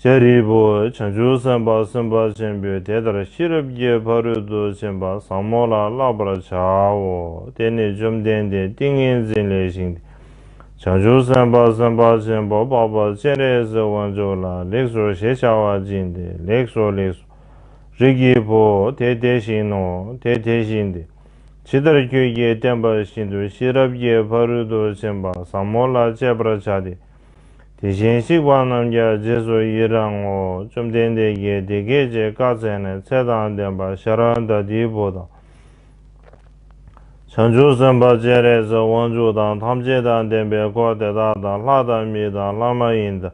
S1: ཤཱ་རིའི་བུ་བྱང་ཆུབ་སེམས་དཔའ་སེམས་དཔའ་ཆེན་པོས་དེ་ལྟར་ཤེས་རབ་ཀྱི་ཕ་རོལ་ཏུ་ཕྱིན་པ་བཟང་མོ་ལ་བསླབ་པར་བྱའོ། དེ་ནས་བཅོམ་ལྡན་འདས་ཏིང་ངེ་འཛིན་ལས་བཞེངས་ཏེ། བྱང་ཆུབ་སེམས་དཔའ་སེམས་དཔའ་ཆེན་པོ་འཕགས་པ་སྤྱན་རས་གཟིགས་དབང་ཕྱུག་ལ་ལེགས་སོ་ཞེས་བྱ་བ་སྦྱིན་ཏེ་ལེགས་སོ་ལེགས་སོ། རིགས་ཀྱི་བུ་དེ་དེ་བཞིན་ནོ་དེ་དེ་བཞིན་ཏེ། ཇི་ལྟར་ཁྱོད་ཀྱིས་བསྟན་པ་བཞིན་དུ་ཤེས་རབ་ཀྱི་ཕ་རོལ་ཏུ་ཕྱིན་པ་ཟབ་མོ་ལ་སྤྱད་པར་བྱ་སྟེ། དེ་བཞིན་གཤེགས་པ་རྣམས་ཀྱང་རྗེས་སུ་ཡི་རང་ངོ། བཅོམ་ལྡན་འདས་ཀྱིས་དེ་སྐད་ཅེས་བཀའ་སྩལ་ནས་ཚེ་དང་ལྡན་པ་ཤཱ་ར་འདྀ་དེའི་བུ་དང། བྱང་ཆུབ་སེམས་དཔའ་སྤྱན་རས་གཟིགས་དབང་ཕྱུག་དང་ཐམས་ཅད་དང་ལྡན་པའི་འཁོར་དེ་དག་དང་ལྷ་དང་མི་དང་ལྷ་མ་ཡིན་དང།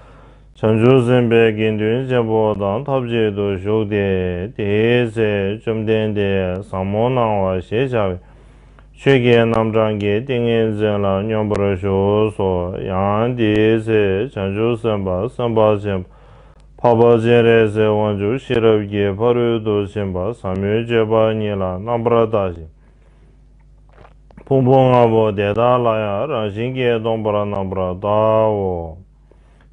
S1: བྱང་ཆུབ་སེམས་དཔའི་དགེ་འདུན་ཆེན་པོ་དང་ཐབས་ཅིག་ཏུ་བཞུགས་ཏེ། དེའི་ཚེ་བཅོམ་ལྡན་འདས་བཟང་མོ་སྣང་བ་ཞེས་བྱ་བའི་ཆོས་རྒྱལ་རྣམ་གྲངས་ཀྱི་ཏིང་ངེ་འཛིན་ལ་སྙོམས་པར་ཞུགས་སོ། ཡང་དེའི་ཚེ་བྱང་ཆུབ་སེམས་དཔའ་སེམས་དཔའ་ཆེན་པོ་འཕགས་པ་སྤྱན་རས་གཟིགས་དབང་ཕྱུག་ཤེས་རབ་ཀྱི་ཕ་རོལ་ཏུ་ཕྱིན་པ་ཟབ་མོའི་སྤྱོད་པ་ཉིད་ལ་རྣམ་པར་བརྟགས་ཤིང་ཕུང་པོ་ལྔ་པོ་དེ་དག་ལ་ཡང་རང་བཞིན་གྱིས་སྟོང་པར་སྣང་བར་བལྟའོ།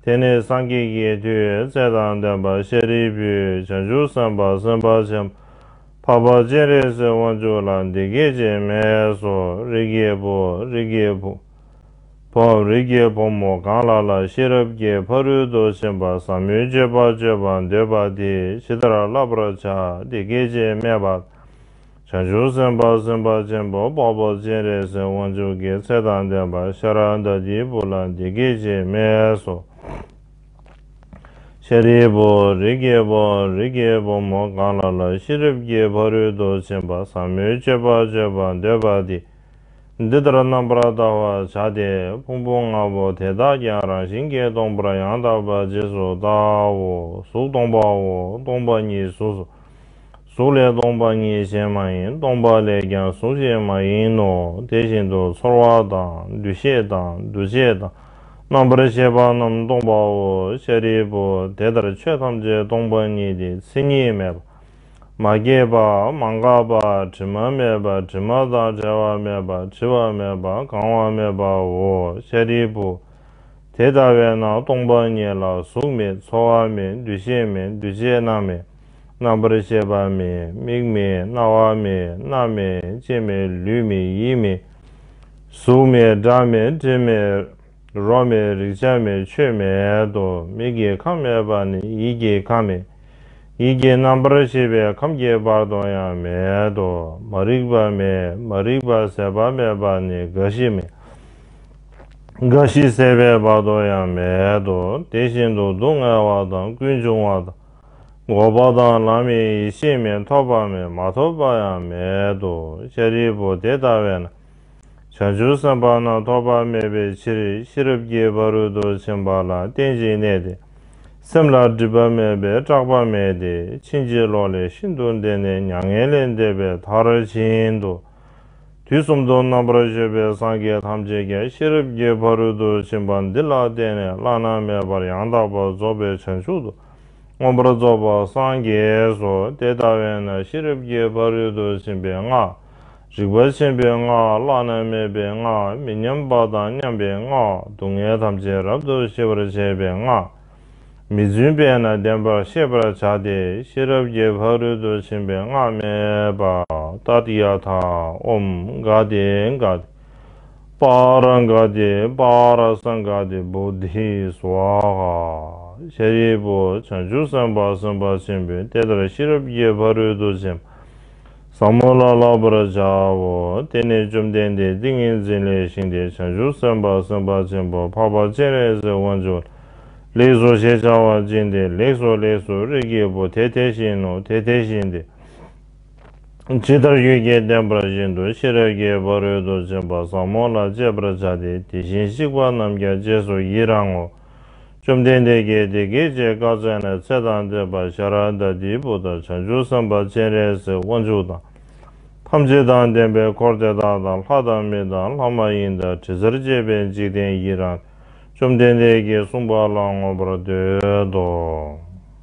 S1: དེ་ནི་སངས་རྒྱས་ཀྱི་མཐུས་ཚད་དང་ལྡན་པ་ཤཱ་རིའི་བུའི་བྱང་ཆུབ་སེམས་དཔའ་སེམས་དཔའ་ཆེན་པོ་འཕགས་པ་སྤྱན་རས་གཟིགས་དབང་ཕྱུག་ལ་འདི་སྐད་ཅེས་སྨྲས་སོ་རིགས་ཀྱི་བུ་རིགས་ཀྱི་བུ་བོ་རིགས་ཀྱི་བུ་མོ་གང་ལ་ལ་ཤེས་རབ་ཀྱི་ཕ་རོལ་ཏུ་ཕྱིན་པ་ཟབ་མོའི་སྤྱོད་པ་སྤྱོད་པར་འདོད་པ་དེས་ཇི་ལྟར་བསླབ་པར་བྱ་འདི་སྐད་ཅེས་སྨྲས་པ། བྱང་ཆུབ་སེམས་དཔའ་སེམས་དཔའ་ཆེན་པོ་དཔའ་བོ་སྤྱན་རས་གཟིགས་དབང་ཕྱུག་གི་ཚེ་དང་ལྡན་པ་ཤ་ར་དྭ་ཏིའི་བུ་ལ་འདི་སྐད་ཅེས་སྨྲས་སོ། ཤཱ་རིའི་བུ། རིགས་ཀྱི་བུ། རིགས་ཀྱི་བུ་མོ་གང་ལ་ལ་ཤེས་རབ་ཀྱི་ཕ་རོལ་ཏུ་ཕྱིན་པ་ཟབ་མོའི་སྤྱོད་པ་སྤྱོད་པར་འདོད་པ་དེ་འདི་ལྟར་རྣམ་པར་བལྟ་བར་བྱ་སྟེ་ཕུང་པོ་ལྔ་པོ་དེ་དག་ཀྱང་རང་བཞིན་གྱིས་སྟོང་པར་ཡང་དག་པར་རྗེས་སུ་བལྟའོ། གཟུགས་སྟོང་པའོ། སྟོང་པ་ཉིད་གཟུགས་སོ། གཟུགས་ལས་སྟོང་པ་ཉིད་གཞན་མ་ཡིན་སྟོང་པ་ལས་ཀྱང་གཟུགས་གཞན་མ་ཡིན་ནོ་དེ་བཞིན་དུ་ཚོར་བ་དང་འདུ་ཤེས་དང་འདུ་བྱེད་དང་རྣམ་པར་ཤེས་པ་རྣམས་སྟོང་པའོ་ཤཱ་རིའི་བུ་དེ་ལྟར་ཆོས་ཐམས་ཅད་སྟོང་པ་ཉིད་དེ་མཚན་ཉིད་མེད་པ་མ་སྐྱེས་པ་མ་འགགས་པ་དྲི་མ་མེད་པ་དྲི་མ་དང་བྲལ་བ་མེད་པ་བྲི་བ་མེད་པ་གང་བ་མེད་པའོ་ཤཱ་རིའི་བུ་དེ་ལྟ་བས་ན་སྟོང་པ་ཉིད་ལ་གཟུགས་མེད་ཚོར་བ་མེད་འདུ་ཤེས་མེད་འདུ་བྱེད་རྣམས་མེད། རྣམ་པར་ཤེས་པ་མེད་མིག་མེད་རྣ་བ་མེད་སྣ་མེད་ལྕེ་མེད་ལུས་མེད་ཡིད་མེད། གཟུགས་མེད་སྒྲ་མེད་དྲི་མེད་རོ་མེད་རེག་བྱ་མེད་ཆོས་མེད་དོ། མིག་གི་ཁམས་མེད་པ་ནི་ཡིད་ཀྱི་ཁམས་མེད། ཡིད་ཀྱི་རྣམ་པར་ཤེས་པའི་ཁམས་ཀྱི་བར་དོ་ཡང་མེད་དོ། མ་རིག་པ་མེད་མ་རིག་པ་ཟད་པ་མེད་པ་ནི་རྒ་ཤི་མེད། རྒ་ཤི་ཟད་པའི་བར་དོ་ཡང་མེད་དོ། དེ་བཞིན་དུ་སྡུག་བསྔལ་བ་དང་ཀུན་འབྱུང་བ་དང། འགོག་པ་དང་ལམ་ཡེ་ཤེས་མེད་ཐོབ་པ་མེད་མ་ཐོབ་པ་ཡང་མེད་དོ་ཤཱ་རིའི་བུ་དེ་ལྟ་བས་ན་བྱང་ཆུབ་སེམས་དཔའ་རྣམས་ཐོགས་པ་མེད་པའི་ཕྱིར་ཤེས་རབ་ཀྱི་བ་རུ་དུ་ཕྱིན་པ་ལ་རྟེན་ཅིང་གནས་ཏེ་སེམས་ལ་སྒྲིབ་པ་མེད་པས་སྐྲག་པ་མེད་དེ་ཕྱིན་ཅི་ལོག་ལས་ཤིན་ཏུ་འདས་ནས་མྱ་ངན་ལས་འདས་པའི་མཐར་ཕྱིན་ཏོ། དུས་གསུམ་དུ་རྣམ་པར་ཤེས་པའི་སངས་རྒྱས་ཐམས་ཅད་ཀྱང་ཤེས་རབ་ཀྱི་བ་རུ་དུ་ཕྱིན་པ་འདི་ལ་བརྟེན་ནས་བླ་ན་མེད་པར་ཡང་དག་པར་རྫོགས་པའི་བྱང་ཆུབ་ཏུ་མངོན་པར་རྫོགས་པར་སངས་རྒྱས་སོ། དེ་ལྟ་བས་ན་ཤེས་རབ་ཀྱི་ཕ་རོལ་ཏུ་ཕྱིན་པའི་སྔགས། རིག་པ་ཆེན་པོའི་སྔགས་བླ་ན་མེད་པའི་སྔགས་མི་མཉམ་པ་དང་མཉམ་པའི་སྔགས་སྡུག་བསྔལ་ཐམས་ཅད་རབ་ཏུ་ཞི་བར་བྱེད་པའི་སྔགས། མི་བརྫུན་པས་ན་བདེན་པར་ཤེས་པར་བྱ་སྟེ་ཤེས་རབ་ཀྱི་ཕ་རོལ་ཏུ་ཕྱིན་པའི་སྔགས་སྨྲས་པ། ཏཱཏི་ཡ་ཐ་ཨོམ་གཱ་ཏེ་གཱ། པར་འགའ་དེ་པར་སངས་འགའ་དེ་བུ་དྷི་སཝཱཧཱ། ཤཱ་རིའི་བུ་བྱང་ཆུབ་སེམས་དཔའ་སེམས་དཔའ་ཆེན་པོས་དེ་ལྟར་ཤེས་རབ་ཀྱི་ཕ་རོལ་ཏུ་ཕྱིན་པ་ཟབ་མོ་ལ་བསླབ་པར་བྱའོ། དེ་ནས་བཅོམ་ལྡན་འདས་ཏིང་ངེ་འཛིན་ལས་བཞེངས་ཏེ་བྱང་ཆུབ་སེམས་དཔའ་སེམས་དཔའ་ཆེན་པོ་འཕགས་པ་སྤྱན་རས་གཟིགས་དབང་ཕྱུག་ལ་ལེགས་སོ་ཞེས་བྱ་བ་སྦྱིན་ཏེ་ལེགས་སོ་ལེགས་སོ་རིགས་ཀྱི་བུ་དེ་དེ་བཞིན་ནོ་དེ་དེ་བཞིན་ཏེ། ཇི་ལྟར་རྒྱུད་རྒྱལ་བསྟན་པ་བཞིན་དུ་ཤེས་རབ་ཀྱི་ཕ་རོལ་ཏུ་ཕྱིན་པ་ཟབ་མོ་ལ་སྤྱད་པར་བྱ་སྟེ་དེ་བཞིན་གཤེགས་པ་རྣམས་ཀྱང་རྗེས་སུ་ཡི་རང་ངོ། བཅོམ་ལྡན་འདས་ཀྱིས་དེ་སྐད་ཅེས་བཀའ་སྩལ་ནས་ཚེ་དང་ལྡན་པ་ཤཱ་ར་དྭ་ཏིའི་བུ་དག་བྱང་ཆུབ་སེམས་དཔའ་སྤྱན་རས་གཟིགས་དབང་ཕྱུག་དང། ཐམས་ཅད་དང་ལྡན་པའི་འཁོར་དེ་དག་དང་ལྷ་དང་མི་དང་ལྷ་མ་ཡིན་དང་དྲི་ཟར་བཅས་པའི་འཇིག་རྟེན་ཡི་རང་བཅོམ་ལྡན་འདས་ཀྱིས་གསུངས་པ་ལ་མངོན་པར་འདོད་དོ།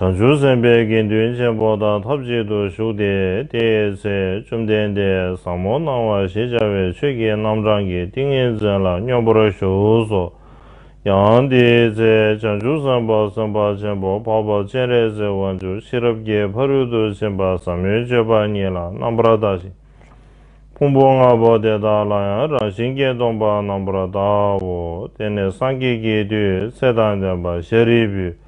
S1: བྱང་ཆུབ་སེམས་དཔའི་དགེ་འདུན་ཆེན་པོ་དང་ཐབས་ཅིག་ཏུ་བཞུགས་ཏེ་དེའི་ཚེ་བཅོམ་ལྡན་འདས་ཟབ་མོ་སྣང་བ་ཞེས་བྱ་བའི་ཆོས་ཀྱི་རྣམ་གྲངས་ཀྱི་ཏིང་ངེ་འཛིན་ལ་སྙོམས་པར་ཞུགས་སོ། ཡང་དེའི་ཚེ་བྱང་ཆུབ་སེམས་དཔའ་སེམས་དཔའ་ཆེན་པོ་འཕགས་པ་སྤྱན་རས་གཟིགས་དབང་ཕྱུག་ཤེས་རབ་ཀྱི་ཕ་རོལ་ཏུ་ཕྱིན་པ་ཟབ་མོའི་སྤྱོད་པ་ཉིད་ལ་རྣམ་པར་བརྟགས་ཤིང། ཕུང་པོ་ལྔ་པོ་དེ་དག་ལ་ཡང་རང་བཞིན་གྱིས་སྟོང་པར་རྣམ་པར་བལྟའོ། དེ་ནས་སངས་རྒྱས་ཀྱི་དུས་ཚེ་དང་ལྡན་པ་ཤཱ་རིའི་བུས།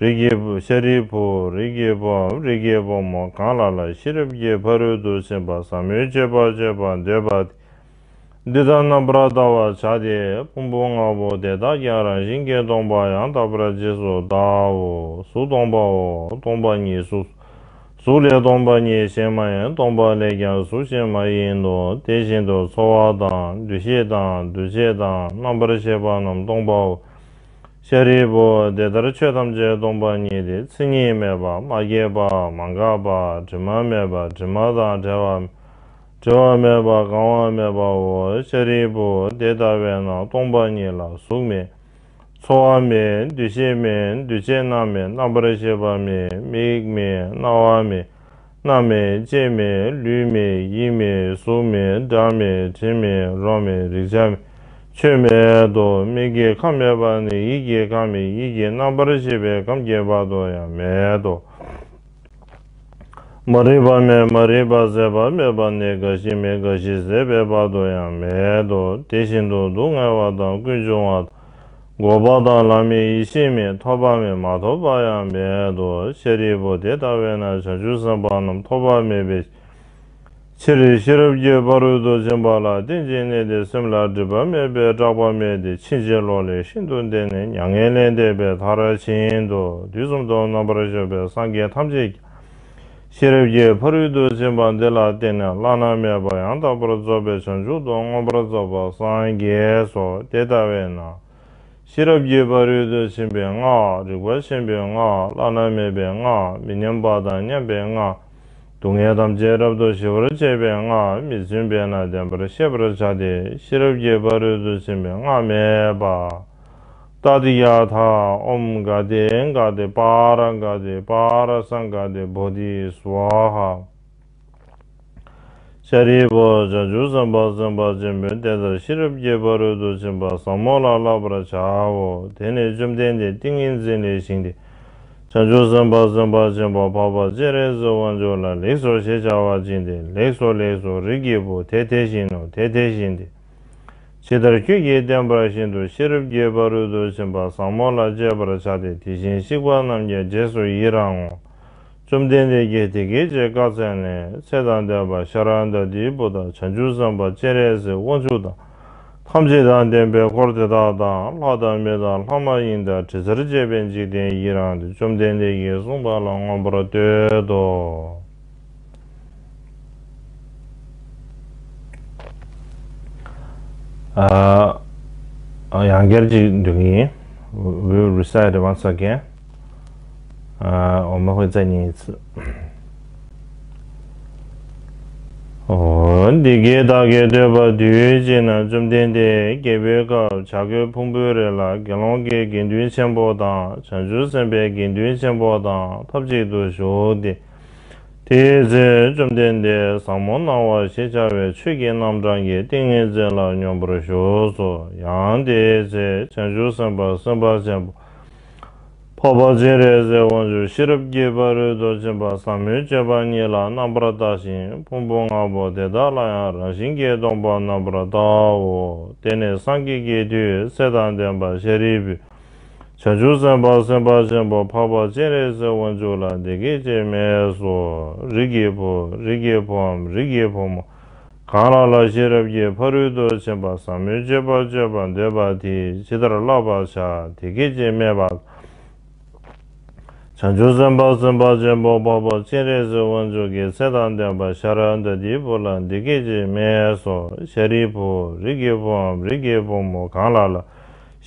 S1: རིགས་ཀྱི་བུ་ཤཱ་རིའི་བུ་རིགས་ཀྱི་བུ་འམ་རིགས་ཀྱི་བུ་མོ་གང་ལ་ལ་ཤེས་རབ་ཀྱི་ཕ་རོལ་ཏུ་ཕྱིན་པ་ཟབ་མོའི་སྤྱོད་པ་སྤྱོད་པར་འདོད་པ་དེ་འདི་ལྟར་རྣམ་པར་བལྟ་བར་བྱ་སྟེ་ཕུང་པོ་ལྔ་པོ་དེ་དག་ཀྱང་རང་བཞིན་གྱིས་སྟོང་པ་ཡང་དག་པར་རྗེས་སུ་བལྟའོ། གཟུགས་སྟོང་པའོ། སྟོང་པ་ཉིད་གཟུགས་སོ། གཟུགས་ལས་སྟོང་པ་ཉིད་གཞན་མ་ཡིན་སྟོང་པ་ལས་ཀྱང་གཟུགས་གཞན་མ་ཡིན་ནོ། དེ་བཞིན་དུ་ཚོར་བ་དང་འདུ་ཤེས་དང་འདུ་བྱེད་དང་རྣམ་པར་ཤེས་པ་རྣམས་སྟོང་པའོ། ཤཱ་རིའི་བུ། དེ་ལྟར་ཆོས་ཐམས་ཅད་སྟོང་པ་ཉིད་དེ་མཚན་ཉིད་མེད་པ་མ་སྐྱེས་པ་མ་འགགས་པ་དྲི་མ་མེད་པ་དྲི་མ་དང་བྲལ་བ་འབྲལ་བ་མེད་པ་གང་བ་མེད་པའོ། ཤཱ་རིའི་བུ། དེ་ལྟ་བས་ན་སྟོང་པ་ཉིད་ལ་གཟུགས་མེད། ཚོར་བ་མེད། འདུ་ཤེས་མེད་འདུ་བྱེད་རྣམས་མེད་རྣམ་པར་ཤེས་པ་མེད་མིག་མེད་རྣ་བ་མེད། སྣ་མེད་ལྕེ་མེད་ལུས་མེད་ཡིད་མེད་གཟུགས་མེད་སྒྲ་མེད་དྲི་མེད་རོ་མེད་རེག་བྱ་མེད་ཆོས་མེད་དོ། མིག་གི་ཁམས་མེད་པ་ནི་ཡིད་ཀྱི་ཁམས་མེད་ཡིད་ཀྱི་རྣམ་པར་ཤེས་པའི་ཁམས་སྐྱེ་བ་དོ་ཡང་མེད་དོ། མ་རིག་པ་མེད་མ་རིག་པ་ཟད་པ་མེད་པ་ནི་རྒ་ཤི་མེད་རྒ་ཤི་ཟད་པའི་བར་དུ་ཡང་མེད་དོ། དེ་བཞིན་དུ་སྡུག་བསྔལ་བ་དང་ཀུན་འབྱུང་བ་དང། འགོག་པ་དང་ལམ་མེད་ཡེ་ཤེས་མེད་ཐོབ་པ་མེད་མ་ཐོབ་པ་ཡང་མེད་དོ་ཤཱ་རིའི་བུ་དེ་ལྟ་བས་ན་བྱང་ཆུབ་སེམས་དཔའ་རྣམས་ཐོབ་པ་མེད་པའི་ཕྱིར་རེ་ཤི་རབ་ཀྱི་བ་རོལ་ཏུ་ཕྱིན་པ་ལ་རྟེན་ཅིང་གནས་ཏེ་སེམས་ལ་སྒྲིབ་པ་མེད་པས་སྐྲག་པ་མེད་དེ་ཕྱིན་ཅི་ལོག་ལས་ཤིན་ཏུ་འདས་ནས་མྱ་ངན་ལས་འདས་པའི་མཐར་ཕྱིན་ཏོ་དུས་གསུམ་སྟོང་རྣམ་པར་ཤར་བའི་སངས་རྒྱས་ཐམས་ཅད་ཀྱི། ཤེས་རབ་ཀྱི་ཕ་རོལ་ཏུ་ཕྱིན་པ་འདི་ལ་བརྟེན་ནས་བླ་ན་མེད་པ་ཡང་དག་པར་རྫོགས་པའི་བྱང་ཆུབ་ཏུ་མངོན་པར་རྫོགས་པར་སངས་རྒྱས་སོ། དེ་ལྟ་བས་ན་ཤེས་རབ་ཀྱི་ཕ་རོལ་ཏུ་ཕྱིན་པའི་སྔགས་རིག་པ་ཆེན་པོའི་སྔགས་བླ་ན་མེད་པའི་སྔགས་མི་མཉམ་པ་དང་མཉམ་པའི་སྔགས་སྡུག་བསྔལ་ཐམས་ཅད་རབ་ཏུ་ཞི་བར་བྱེད་པའི་སྔགས་མི་བཙུན་པས་ན་བདེན་པར་ཤེས་པར་བྱ་སྟེ་ཤེས་རབ་ཀྱི་ཕ་རོལ་ཏུ་ཕྱིན་པའི་སྔགས་མེད་པ། ཏཱ་དི་ཡ་ཐ་ཨོམ་ག་ཏེ་ག་ཏེ་པ་ར་ག་ཏེ་པ་ར་ས་ག་ཏེ་བྷོ་དྷི་སུ་བ་ཧ། ཤཱ་རིའི་བུ་བྱང་ཆུབ་སེམས་དཔའ་སེམས་དཔའ་ཆེན་པོའི་རྟེན་རྩ་ཤེས་རབ་ཀྱི་བ་རོལ་ཏུ་ཕྱིན་པ་ཟབ་མོ་ལ་བསླབ་པར་བྱའོ། དེ་ནས་བཅོམ་ལྡན་འདས་ཏིང་ངེ་འཛིན་ལས་བཞེངས་ཏེ། བྱང་ཆུབ་སེམས་དཔའ་སེམས་དཔའ་ཆེན་པོ་འཕགས་པ་སྤྱན་རས་གཟིགས་དབང་ཕྱུག་ལ་ལེགས་སོ་ཞེས་བྱ་བ་བཅིངས་ཏེ་ལེགས་སོ་ལེགས་སོ་རིགས་ཀྱི་བུ་དེ་དེ་བཞིན་ནོ་དེ་དེ་བཞིན་ཏེ། ཇི་ལྟར་ཁྱོད་ཀྱིས་བསྟན་པ་བཞིན་དུ་ཤེས་རབ་ཀྱི་བ་རུལ་དུ་ཕྱིན་པ་བཟང་མོ་ལ་སྤྱད་པར་བྱ་སྟེ་དེ་བཞིན་གཤེགས་པ་རྣམས་ཀྱི་རྗེས་སུ་ཡི་རང་ངོ། བཅོམ་ལྡན་འདས་ཀྱིས་དེ་སྐད་ཅེས་བཀའ་སྩལ་ནས་ཚེ་དང་ལྡན་པ་ཤཱ་ར་འདཱ་དིའི་བུ་དག་བྱང་ཆུབ་སེམས་དཔའ་སྤྱན་རས་གཟིགས་དབང་ཕྱུག་དང། ཐམས་ཅད་དང་ལྡན་པའི་འཁོར་དེ་དག་དང་ལྷ་དང་མི་དང་ལྷ་མ་ཡིན་དང་དྲི་ཟར་བཅས་པའི་འཇིག་རྟེན་ཡི་རང་དེ་བཅོམ་ལྡན་འདས་ཀྱིས་གསུངས་པ་ལ་མངོན་པར་བསྟོད་དོ། ཡང་བསྐྱར་ཅིག་འབྲི་གི་ཡིན We will recite it once again འོ་མ་ཧོས་རྩ་གཉིས་ཚུ་འདི་སྐད་བདག་གིས་བསྟོད་པ་དུས་གཅིག་ན་བཅོམ་ལྡན་འདས་རྒྱལ་པོའི་སྐབས་བྱ་རྒོད་ཕུང་པོའི་རི་ལ་དགེ་སློང་གི་དགེ་འདུན་ཆེན་པོ་དང་བྱང་ཆུབ་སེམས་དཔའི་དགེ་འདུན་ཆེན་པོ་དང་ཐབས་ཅིག་ཏུ་བཞུགས་ཏེ། དེའི་ཚེ་བཅོམ་ལྡན་འདས་བཟང་མོ་སྣང་བ་ཞེས་བྱ་བའི་ཆོས་ཀྱི་རྣམ་གྲངས་ཀྱི་ཏིང་ངེ་འཛིན་ལ་སྙོམས་པར་ཞུགས་སོ། ཡང་དེའི་ཚེ་བྱང་ཆུབ་སེམས་དཔའ་སེམས་དཔའ་ཆེན་པོ་འཕགས་པ་སྤྱན་རས་གཟིགས་དབང་ཕྱུག་ཤེས་རབ་ཀྱི་བ་རོལ་ཏུ་ཕྱིན་པ་ཟབ་མོའི་སྤྱོད་པ་ཉིད་ལ་རྣམ་པར་བརྟགས་ཤིང་ཕུང་པོ་ལྔ་པོ་དེ་དག་ལ་ཡང་རང་བཞིན་གྱིས་སྟོང་པར་རྣམ་པར་བརྟག་གོ། དེ་ནས་སངས་རྒྱས་ཀྱི་མཐུས་སྲས་དང་ལྡན་པ་ཤཱ་རིའི་བུས། བྱང་ཆུབ་སེམས་དཔའ་སེམས་དཔའ་ཆེན་པོ་འཕགས་པ་སྤྱན་རས་གཟིགས་དབང་ཕྱུག་ལ་འདི་སྐད་ཅེས་སྨྲས་སོ། རིགས་ཀྱི་བུ་རིགས་ཀྱི་བུའམ་རིགས་ཀྱི་བུ་མོ། གང་ལ་ལ་ཤེས་རབ་ཀྱི་ཕ་རོལ་ཏུ་ཕྱིན་པ་ཟབ་མོའི་སྤྱོད་པ་སྤྱོད་པར་འདོད་པ་དེས་ཇི་ལྟར་བསླབ་པར་བྱ་དེ་སྐད་ཅེས་སྨྲས་པ། བྱང་ཆུབ་སེམས་དཔའ་སེམས་དཔའ་ཆེན་པོ་འཕགས་པ་སྤྱན་རས་གཟིགས་དབང་ཕྱུག་གིས་ཚེ་དང་ལྡན་པ་ཤཱ་ར་འདཱ་ཏིའི་བུ་ལ་འདི་སྐད་ཅེས་སྨྲས་སོ། ཤཱ་རིའི་བུ་རིགས་ཀྱི་བུའམ་རིགས་ཀྱི་བུ་མོ་གང་ལ་ལ་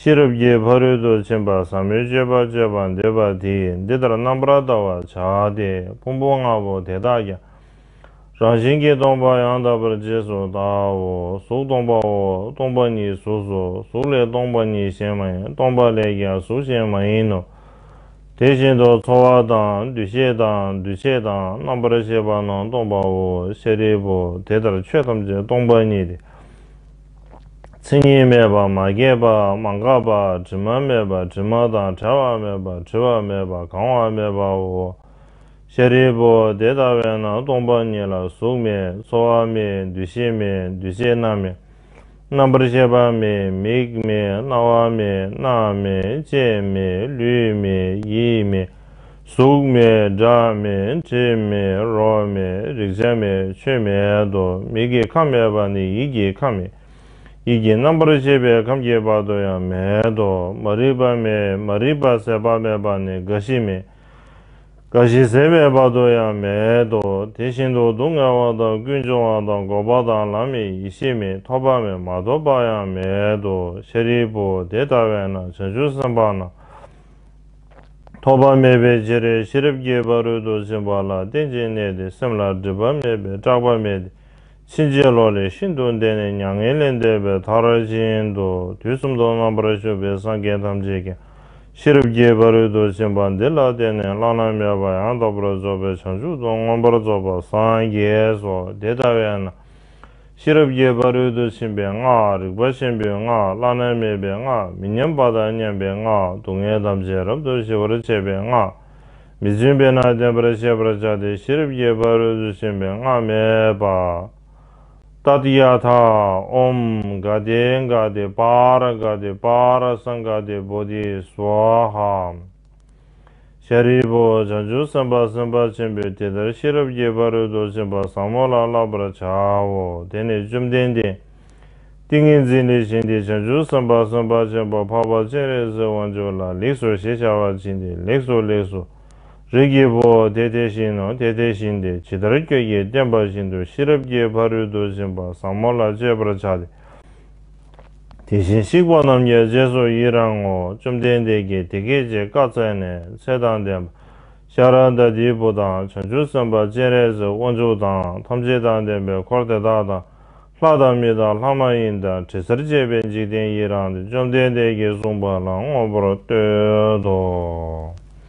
S1: ཤེས་རབ་ཀྱི་ཕ་རོལ་ཏུ་ཕྱིན་པ་ཟབ་མོའི་སྤྱོད་པ་སྤྱོད་པར་འདོད་པ་དེས་འདི་ལྟར་རྣམ་པར་བལྟ་བར་བྱ་སྟེ་ཕུང་པོ་ལྔ་པོ་དེ་དག་ཀྱང་རང་བཞིན་གྱིས་སྟོང་པ་ཡང་དག་པར་རྗེས་སུ་བལྟའོ། གཟུགས་སྟོང་པའོ། སྟོང་པ་ཉིད་གཟུགས་སོ། གཟུགས་ལས་སྟོང་པ་ཉིད་གཞན་མ་ཡིན་སྟོང་པ་ལས་ཀྱང་གཟུགས་གཞན་མ་ཡིན་ནོ། དེ་བཞིན་དུ་ཚོར་བ་དང་འདུ་ཤེས་དང་འདུ་བྱེད་དང་རྣམ་པར་ཤེས་པ་རྣམས་སྟོང་པའོ། ཤཱ་རིའི་བུ་དེ་ལྟར་ཆོས་ཐམས་ཅད་སྟོང་པ་ཉིད་དེ། མཚན་ཉིད་མེད་པར་མ་སྐྱེས་པ་མ་འགགས་པ་དྲི་མ་མེད་པ་དྲི་མ་དང་བྲལ་བ་མེད་པ་བྲི་བ་མེད་པ་གང་བ་མེད་པའོ། ཤཱ་རིའི་བུ་དེ་ལྟ་བས་ན་སྟོང་པ་ཉིད་ལ་གཟུགས་མེད་ཚོར་བ་མེད་འདུ་ཤེས་མེད་འདུ་བྱེད་རྣམས་མེད། རྣམ་པར་ཤེས་པ་མེད་མིག་མེད་རྣ་བ་མེད་སྣ་མེད་ལྕེ་མེད་ལུས་མེད་ཡིད་མེད་གཟུགས་མེད་སྒྲ་མེད་དྲི་མེད་རོ་མེད་རེག་བྱ་མེད་ཆོས་མེད་དོ། མིག་གི་ཁམས་མེད་པར་ནི་ཡིད་ཀྱི་ཁམས་མེད། ཡིད་ཀྱི་རྣམ་པར་ཤེས་པའི་ཁམས་ཀྱི་བར་དུ་ཡང་མེད་དོ། མ་རིག་པ་མེད་མ་རིག་པ་ཟད་པ་མེད་པར་ནི་རྒ་ཤི་མེད། རྒ་ཤི་ཟད་པའི་བར་དུ་ཡང་མེད་དོ། དེ་བཞིན་དུ་སྡུག་བསྔལ་བ་དང་ཀུན་འབྱུང་བ་དང་འགོག་པ་དང་ལམ་མེད་ཡེ་ཤེས་མེད་ཐོབ་པ་མེད་མ་ཐོབ་པ་ཡང་མེད་དོ། ཤཱ་རིའི་བུ་དེ་ལྟ་བས་ན་བྱང་ཆུབ་སེམས་དཔའ་ན། ཐོགས་པ་མེད་པའི་རྗེས་རེ་ཤི་རབ་རྒྱས་པ་རོལ་དུ་ཕྱིན་པ་ལ་རྟེན་ཅིང་གནས་ཏེ་སེམས་ལ་སྒྲིབ་པ་མེད་པས་སྐྲག་པ་མེད་དེ་ཕྱིན་ཅི་ལོག་ལས་ཤིན་ཏུ་འདས་ནས་མྱ་ངན་ལས་འདས་པའི་ཐག་ར་ཅན་དུ་དུས་གསུམ་དུ་རྣམ་པར་བཞུགས་པའི་སངས་རྒྱས་ཐམས་ཅད་ཀྱང་ཤི་རབ་རྒྱས་པ་རོལ་དུ་ཕྱིན་པ་འདི་ལ་བརྟེན་ནས་བླ་ན་མེད་པ་ཡང་དག་པར་རྫོགས་པའི་བྱང་ཆུབ་ཏུ་མངོན་པར་རྫོགས་པར་སངས་རྒྱས་སོ་དེ་ལྟ་བས་ན། ཤེས་རབ་རྒྱས་པ་རོལ་དུ་ཕྱིན་པའི་སྔགས་རིག་པ་ཆེན་པོའི་སྔགས་བླ་ན་མེད་པའི་སྔགས་མི་མཉམ་པ་དང་མཉམ་པའི་སྔགས་སྡུག་བསྔལ་ཐམས་ཅད་རབ་ཏུ་ཞི་བར་བྱེད་པའི་སྔགས་མི་བཙུན་པས་ན་བདེན་པར་ཤེས་པར་བྱ་སྟེ་ཤེས་རབ་རྒྱས་པ་རོལ་དུ་ཕྱིན་པའི་སྔགས་སྨྲས་པ། ཏཱཏི་ཡ་ཐ། ཨོམ། གཱ་ཏེ་གཱ་ཏེ་པཱ་ར་གཱ་ཏེ་པཱ་ར་སངྒཱ་ཏེ་བོ་དྷི་སཝཱ་ཧཱ། ཤཱ་རིའི་བུ། བྱང་ཆུབ་སེམས་དཔའ་སེམས་དཔའ་ཆེན་པོས་དེ་ལྟར་ཤེས་རབ་ཀྱི་བར་རོལ་དུ་ཕྱིན་པ་བཟང་མོ་ལ་བསླབ་པར་བྱའོ། དེ་ནས་བཅོམ་ལྡན་འདས། ཏིང་ངེ་འཛིན་ལས་བྱིན་ཏེ་བྱང་ཆུབ་སེམས་དཔའ་སེམས་དཔའ་ཆེན་པོ་འཕགས་པ་སྤྱན་རས་གཟིགས་དབང་ཕྱུག་ལ་ལེགས་སོ་ཞེས་བྱ་བར་བྱིན་ཏེ་ལེགས་སོ་ལེགས་སོ། རིགས་ཀྱི་བུ། དེ་དེ་བཞིན་ནོ་དེ་དེ་བཞིན་ཏེ་ཇི་ལྟར་ཁྱོད་ཀྱིས་བསྟན་པ་བཞིན་དུ་ཤེས་རབ་ཀྱི་བར་རོལ་དུ་ཕྱིན་པ་བཟང་མོ་ལ་སྤྱོད་པར་བྱ་སྟེ། དེ་བཞིན་གཤེགས་པ་རྣམས་ཀྱི་རྗེས་སུ་ཡི་རང་ངོ། བཅོམ་ལྡན་འདས་ཀྱིས་དེ་སྐད་ཅེས་བཀའ་སྩལ་ནས་ཚེ་དང་ལྡན་པ་ཤཱཀྱ་ཟླ་བུ་དང་བྱང་ཆུབ་སེམས་དཔའ་སྤྱན་རས་གཟིགས་དབང་ཕྱུག་དང་ཐམས་ཅད་དང་ལྡན་པའི་འཁོར་དེ་དག་དང་ལྷ་དང་མི་དང་ལྷ་མ་ཡིན་དང་དྲི་ཟར་བཅས་པའི་འཇིག་རྟེན་ཡི་རང་དེ་བཅོམ་ལྡན་འདས་ཀྱིས་གསུངས་པ་ལ་དངོས་པོར་བསྟོད་དོ།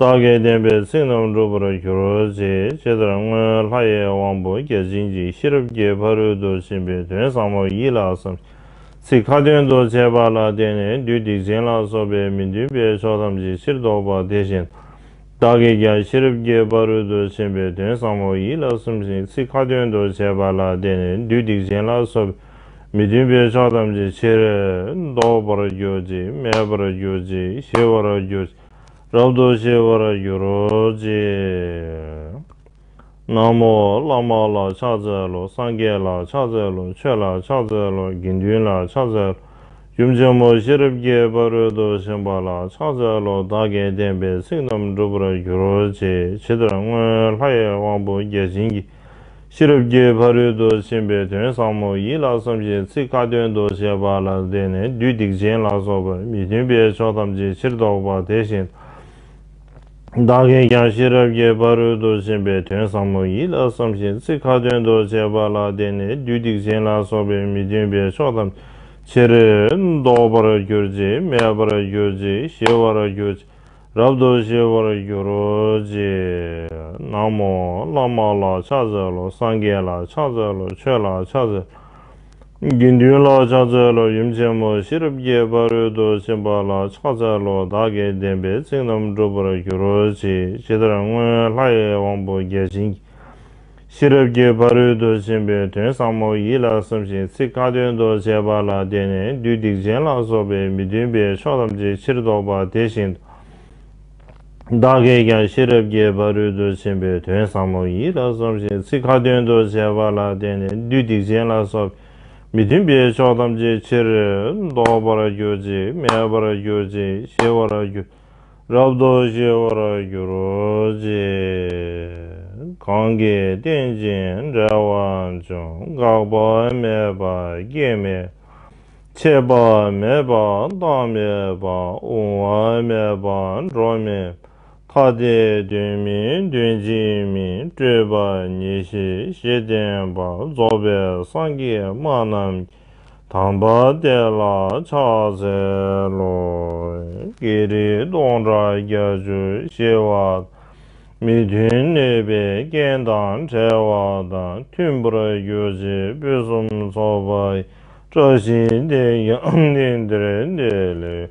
S1: རྟ་སྐད་བསྟན་པས་ཚིག་རྣམས་འགྲུབ་པར་གྱུར་ཅིག་ཅེས་ལྟར་སྔོན་ལྷ་ཡེ་དབང་པོ་བརྒྱ་བྱིན་གྱིས་ཤེས་རབ་ཀྱི་ཕ་རོལ་ཏུ་ཕྱིན་པའི་དོན་བཟང་པོ་ཡིད་ལ་བསམ་ཞིང་ཚིག་ཁ་ཏོན་དུ་བྱས་པ་ལ་བརྟེན་ནས་བདུད་སྡིག་ཅན་ལ་སོགས་པའི་མི་མཐུན་པའི་ཕྱོགས་ཐམས་ཅད་ཕྱིར་ཟློག་པ་དེ་བཞིན་དུ་བདག་གིས་ཀྱང་ཤེས་རབ་ཀྱི་ཕ་རོལ་ཏུ་ཕྱིན་པའི་དོན་བཟང་པོ་ཡིད་ལ་བསམ་ཞིང་ཚིག་ཁ་ཏོན་དུ་བྱས་པ་ལ་བརྟེན་ནས་བདུད་སྡིག་ཅན་ལ་སོགས་པའི་མི་མཐུན་པའི་ཆོས་ཐམས་ཅད་ཕྱིར་ཟློག་པར་གྱུར་ཅིག་མེད་པར་གྱུར་ཅིག་ཞི་བར་གྱུར་ཅིག་རབ་ཏུ་ཞི་བར་གྱུར་རོ་ཅིག། ན་མོ་བླ་མ་ལ་ཕྱག་འཚལ་ལོ་སངས་རྒྱས་ལ་ཕྱག་འཚལ་ལོ་ཆོས་ལ་ཕྱག་འཚལ་ལོ་དགེ་འདུན་ལ་ཕྱག་འཚལ་ལོ་ཡུམ་ཆེན་མོ་ཤེས་རབ་ཀྱི་ཕ་རོལ་ཏུ་ཕྱིན་པ་ལ་ཕྱག་འཚལ་ལོ་བདག་གི་བསྟན་པའི་ཚིག་རྣམས་འགྲུབ་པར་གྱུར་ཅིག་ཇི་ལྟར་སྔོན་ལྷ་ཡི་དབང་པོ་བརྒྱ་བྱིན་གྱིས་ཤེས་རབ་ཀྱི་ཕ་རོལ་ཏུ་ཕྱིན་པའི་དོན་བཟང་མོ་ཡིད་ལ་བསམ་ཞིང་ཚིག་ཁ་ཏོན་དུ་བྱེད་པ་ལ་བརྟེན་ནས་བདུད་སྡིག་ཅན་ལ་སོགས་པར་མི་མཐུན་པའི་ཕྱོགས་ཐམས་ཅད་ཕྱིར་ཟློག་པ་དེ་བཞིན་བདག་གིས་ཀྱང་ཤེས་རབ་ཀྱི་ཕ་རོལ་ཏུ་ཕྱིན་པའི་དོན་བཟང་མོ་ཡིད་ལ་བསམ་ཞིང་ཚིག་ཁ་ཏོན་དུ་བྱེད་པ་ལ་བརྟེན་ནས་བདུད་སྡིག་ཅན་ལ་སོགས་པའི་མི་མཐུན་པའི་ཕྱོགས་ཐམས་ཅད་ཕྱིར་ཟློག་པར་གྱུར་ཅིག་མེད་པར་གྱུར་ཅིག་ཞི་བར་གྱུར་ཅིག། རབ་ཏུ་ཤེས་པར་གྱུར་ཅིག། ན་མོ་བླ་མ་ལ་ཕྱག་འཚལ་ལོ་སངས་རྒྱས་ལ་ཕྱག་འཚལ་ལོ་ཆོས་ལ་ཕྱག་འཚལ་ལོ། དགེ་འདུན་ལ་ཕྱག་འཚལ་ལོ་ཡུམ་ཆེན་མོ་ཤེས་རབ་ཀྱི་ཕ་རོལ་ཏུ་ཕྱིན་པ་ལ་ཕྱག་འཚལ་ལོ་བདག་གི་བདེན་པའི་ཚིག་རྣམས་འགྲུབ་པར་གྱུར་ཅིག་ཇི་ལྟར་སྔོན་ལྷའི་དབང་པོ་བརྒྱ་བྱིན་གྱིས། ཤེས་རབ་ཀྱི་ཕ་རོལ་ཏུ་ཕྱིན་པའི་དོན་བཟང་མོ་ཡིད་ལ་བསམ་ཞིང་ཚིག་ཁ་ཏོན་དུ་བྱས་པ་ལ་བརྟེན་ནས་བདུད་སྡིག་ཅན་ལ་སོགས་པའི་མི་མཐུན་པའི་ཕྱོགས་ཐམས་ཅད་ཕྱིར་ལྡོག་པ་དེ་བཞིན་དུ། བདག་གིས་ཀྱང་ཤེས་རབ་ཀྱི་ཕ་རོལ་ཏུ་ཕྱིན་པའི་དོན་བཟང་མོ་ཡིད་ལ་བསམ་ཞིང་ཚིག་ཁ་ཏོན་དུ་བྱས་པ་ལ་བརྟེན་ནས་བདུད་སྡིག་ཅན་ལ་སོགས་པའི་མི་མཐུན་པའི་ཕྱོགས་ཐམས་ཅད་ཕྱིར་ལྡོག་པར་གྱུར་ཅིག་མེད་པར་གྱུར་ཅིག་ཞི་བར་གྱུར། རབ་ཏུ་ཞི་བར་གྱུར་ཅིག། གང་གི་རྟེན་ཅིང་འབྲེལ་བར་འབྱུང་འགག་པ་མེད་པ་སྐྱེ་མེད་མཆེད་པ་མེད་པ་བདག་མེད་པ་དབུང་བ་མེད་པ་འགྲོ་མེད་ཐ་དད་དོན་མིན་དོན་གཅིག་མིན་སྤྲོས་པ་ཉིད་ཞི་ཞེས་བསྟན་པ་རྫོགས་པའི་སངས་རྒྱས་སྨྲ་རྣམས་ཀྱི་དམ་པ་དེ་ལ་ཕྱག་འཚལ་ལོ། ཀྱེ་རིགས་སྟོང་ཕྲག་བརྒྱ་བཅུ་ཞེ་བ། མི་མཐུན་གནོད་པའི་རྐྱེན་དང་བྲལ་བ་དང་མཐུན་པར་གྱུར་ཅིག་ཕུན་སུམ་ཚོགས་པའི་བཀྲ་ཤིས་དེ་ཡང་གནས་འདིར་འདི་ལས